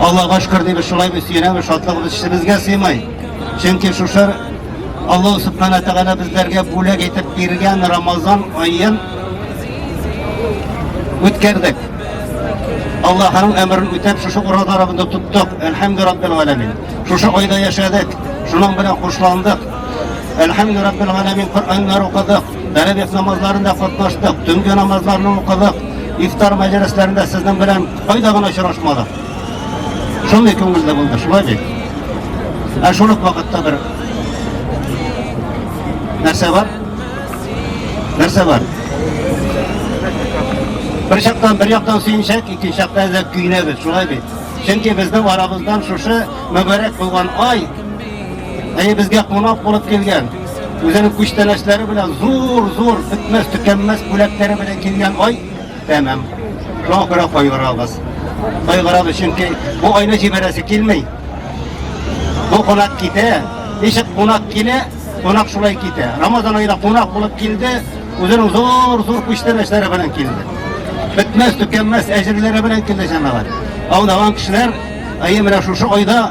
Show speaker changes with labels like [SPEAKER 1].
[SPEAKER 1] Аллага шкөр дибез, шулайбыз, сөенәбез, шатлыгыбыз эчебезгә сыймай. Чөнки шушы Аллаһ Субхана Тәгалә безләргә бүләк итеп биргән Рамазан аен үткәрдек. Аллаһның әмерен үтәп, шушы уразаларыбызны тоттык. Әлхәмдү Раббил Галәмин. Шушы айда яшәдек, шуның белән хушландык. Әлхәмдү Раббил Галәмин Коръәннәр укыдык, тәрәвих намазларында катнаштык, төнге намазларны укыдык, ифтар мәҗлесләрендә сезнең белән Кайда гына очрашмадык. Шундый күңелле булды, шулай бит. Ә шул ук вакытта бер нәрсә бар? Нәрсә бар? Бер чактан, бер яктан сөенсәк, икенче яктан әзәк көйнәбез, шулай бит. Чөнки безнең арабыздан шушы мөбарәк булган ай, әйе безгә кунак булып килгән, үзенең күчтәнәчләре белән зур-зур, бетмәс-төкәнмәс бүләкләре белән килгән ай, Тәмам. Шуңа күрә кайгырабыз. Кайгырабыз, чөнки бу айны җибәрәсе килми. Бу кунак китә, ничек кунак килә, кунак шулай китә. Рамазан аенда кунак булып килде, үзенең зур-зур күчтәнәчләре белән килде. Бетмәс, төкәнмәс әҗерләре белән килде җәмәгать. Алдаган кешеләр, әйе, менә шушы айда